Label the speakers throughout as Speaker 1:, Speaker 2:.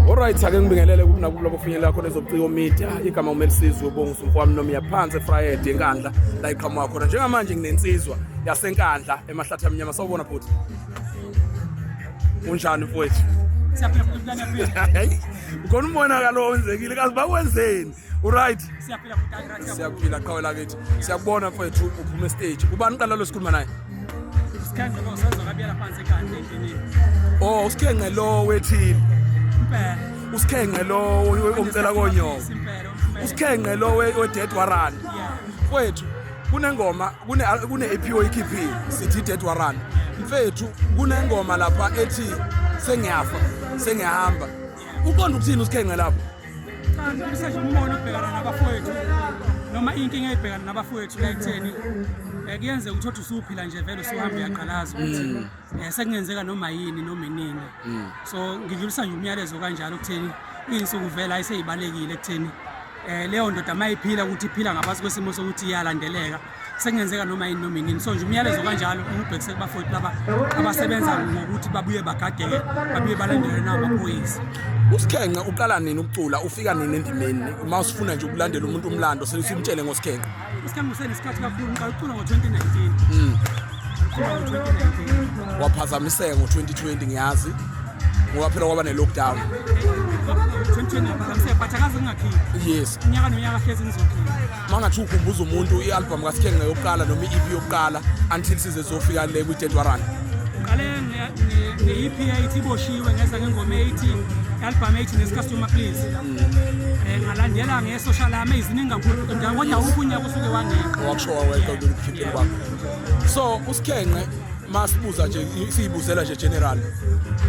Speaker 1: Alright ake ngibingelele kuthi nakulo bofinyelela khona ezobuciko media igama uMelisizwe ubongusu mfowami noma yaphansi eFriday enkandla la iqhamuka khona njengamanje nginensizwa yasenkandla emahlathi amnyama sawubona futhi unjani mfowethu
Speaker 2: siyaphefumula nempilo khona
Speaker 1: umonakalo owenzekile kazi bakwenzeni Uright. Siyaphila kudala right.
Speaker 2: Siyaphila qhawe lakithi.
Speaker 1: Siyakubona mfethu uphuma stage. Ubani uqala lo sikhuluma naye? Usikhenqe lo
Speaker 2: senzo kabiyela phansi kanti endini. Oh, usikhenqe
Speaker 1: lo wethini. Impela.
Speaker 2: Usikhenqe
Speaker 1: lo omcela konyoko. Usikhenqe lo wedead warrant. Mfethu kunengoma kune kune EP oyikhiphile sithi dead warrant. Mfethu kunengoma lapha ethi sengiyafa, sengiyahamba. Uqonda ukuthini usikhenqe lapho? Kanti
Speaker 2: umbono obhekana nabafowethu noma inkinga ebhekana nabafowethu la ekutheni eh, kuyenzeka ukuthi othi usuphila nje vele usuhambe uyaqalaza ukuthi mm. eh, sekungenzeka noma yini noma inini mm. so ngidlulisa nje umyalezo kanjalo okutheni iy'nsuku vele ayiseyibalekile ekutheni um leyo ndoda uma iphila ukuthi iphila ngaphansi kwesimo sokuthi iyalandeleka sekungenzeka noma yini noma inini so nje umyalezo kanjalo ubhekise kubafowethu laba abasebenza ngokuthi babuye bagadeke babuye balandelwe namaphoyisa usikhenqe
Speaker 1: uqala nini ukucula ufika nini endimeni uma usifuna nje ukulandela umuntu umlando sesimtshele ngosikhenqe usikhenqe usenesikhathi
Speaker 2: kakhulu ngiqala ukucula ngo-2019 mm. waphazamiseka ngo-2020
Speaker 1: ngiyazi ngoba phela kwaba ne-lockdown yes
Speaker 2: unyaka nonyaka
Speaker 1: hlezi
Speaker 2: ngizokhipha uma ungathi ukhumbuza
Speaker 1: umuntu i-albhamu kasikhenga yokuqala noma i-ep yokuqala until size zofika le kwi-dead warrant qale
Speaker 2: nge-ep yayithi iboshiwe ngeza ngengoma eyithi i-albhamu eyithi nesicastoma please um ngalandela nge-social ami eziningi kakhulu kodwa wukho unyaka usuke wangeqa wakusho waweqa
Speaker 1: ukukhiphela kwakho so usikhenqe masibuza nje siyibuzela nje general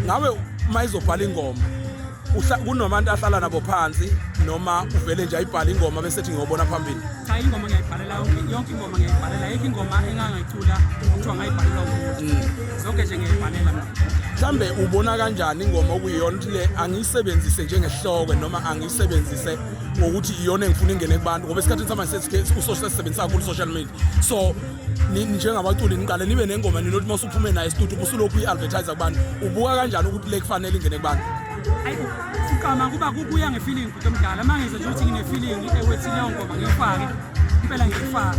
Speaker 1: ngawe mayizobhala ingoma kunomantu ahlala nabo phansi noma uvele nje ayibhale ingoma bese ethi ngiyobona phambili cha ingoma ngiyayibhalela
Speaker 2: yonke ingoma ngiyayibhalela yonke ingoma engangayicula kuthiwa ngayibhalela umuntu mm. zonke nje ngiyayibhalela mina mhlambe ubona
Speaker 1: kanjani ingoma okuyiyona ukuthi le angiyisebenzise njengehloko noma angiyisebenzise ngokuthi iyona engifuna ingene kubantu ngoba esikhathini samanje sesike usosebenzisa kakhulu social media so njengabaculi niqale nibe nengoma ninothi uma usuphume naye studio ubusulokhu i-advertise kubantu ubuka kanjani ukuthi le kufanele ingene kubantu
Speaker 2: siqama kuba kubuya ngefeeling bhuti omdala uma ngizwe nje ukuthi ngine-feeling ewethi leyo ngoma ngiyifake impela ngiyifaka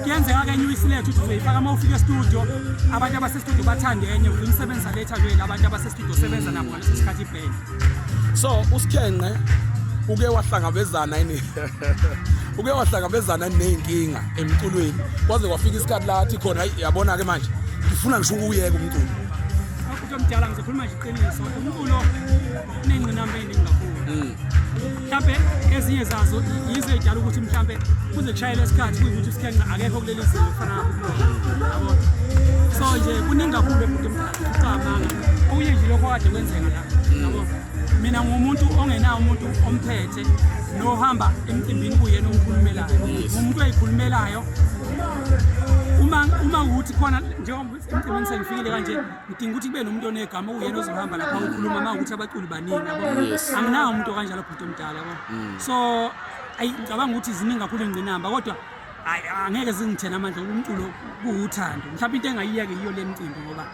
Speaker 2: kuyenzeka kenye uyisilethe ukuthi uzoyifaka uma ufika estudio abantu abasestudio bathande enye umsebenzi aletha lwela abantu abasestudio sebenza nabo isikhathi ibheni
Speaker 1: so usikhenqe uke wahlangabezana ini uke wahlangabezana nezinkinga emculweni kwaze kwafika isikhathi lathi khona yabona ke manje ngifuna ngisho ukuyeka umculo umuntu omdala ngizokhuluma
Speaker 2: nje iqiniso umculo unengqinamba eningi kakhulu mm. mhlampe ezinye zazo yizo ey'dala ukuthi mhlampe kuze kushayele isikhathi kuyukuthi usikhenqa akekho kuleli zinga okufana yabo so nje kuningi kakhulu ebhuti mcabanga okunye nje lokho kade kwenzeka la yabo mina ngumuntu ongenawo umuntu omphethe nohamba emcimbini kuyena omkhulumelayo ngumuntu oyikhulumelayo uma uma ukuthi khona njengoba emcimbini sengifikile kanje udinga ukuthi kube nomuntu onegama uyena ozohamba lapha ukhuluma uma ukuthi abaculi baningi yabo anginawo umuntu okanjalo bhuti omdala yabo mm. so ayi ngicabanga ukuthi ziningi kakhulu ingqinamba kodwa ayi angeke zingithena amandla umculo kuwuthando mhlawumbe into engayiyeke yiyo le mcimbi ngoba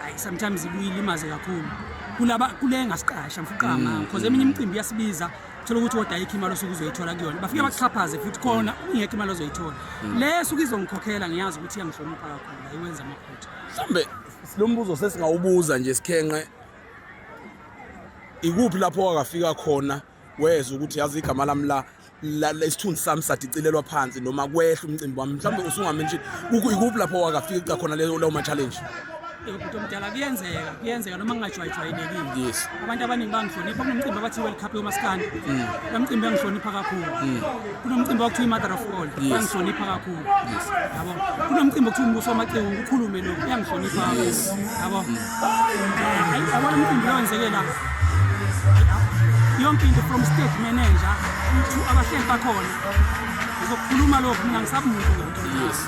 Speaker 2: ayi sometimes ibuyilimaze kakhulu kulaba kule ngasiqasha mfuqama mm, because eminye mm. imicimbi iyasibiza thola ukuthi kodwa ayikho imali osuke uzoyithola kuyona bafike baxhaphaze futhi khona ingekho imali ozoyithola le suke izongikhokhela ngiyazi ukuthi iyangihlonipha kakhulu ayiwenza amaphutha mhlambe
Speaker 1: silombuzo sesingawubuza nje sikhenqe ikuphi lapho wakafika khona wezwa ukuthi yazi igama lami la lesithunzi sami sadicilelwa phansi noma kwehla umcimbi wami mhlawumbe usungame nje ikuphi lapho wakafika cha khona leyo ma-challenge ebhuti omdala
Speaker 2: kuyenzeka kuyenzeka noma kungajwayijwayelekile yes abantu abaningi
Speaker 1: bangihlonipha
Speaker 2: kunomcimbi abathi world cup yomaskandi mm. lo mcimbi angihlonipha kakhulu mm. kunomcimbi wakuthiwa i-mother of all uyangihlonipha kakhulu yabo kunomcimbi okuthiwa umbuso wamacingo ngikhulume lo uyangihlonipha kakhulu yabo yabona umcimbi lowo wenzeke la yonke into from state manager to abahleli bakhona ngizokukhuluma lokhu mina ngisabumuntu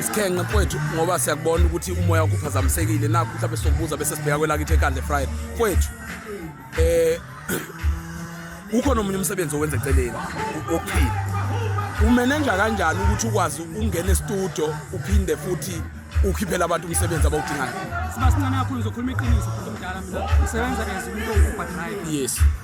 Speaker 2: isikhenqe
Speaker 1: mfowethu ngoba siyakubona ukuthi umoya wakho uphazamisekile nakho mhlawumbe sokubuza bese sibheka kwelakithi ekande friday mfowethu eh ukhona omunye umsebenzi owenza eceleni wokuphila umenenja kanjani ukuthi ukwazi ungena estudio uphinde futhi ukhiphela abantu umsebenzi abawudingayo siba sincane kakhulu
Speaker 2: ngizokhuluma iqiniso futhi mdala mina ngisebenza as umuntu obhadrive yes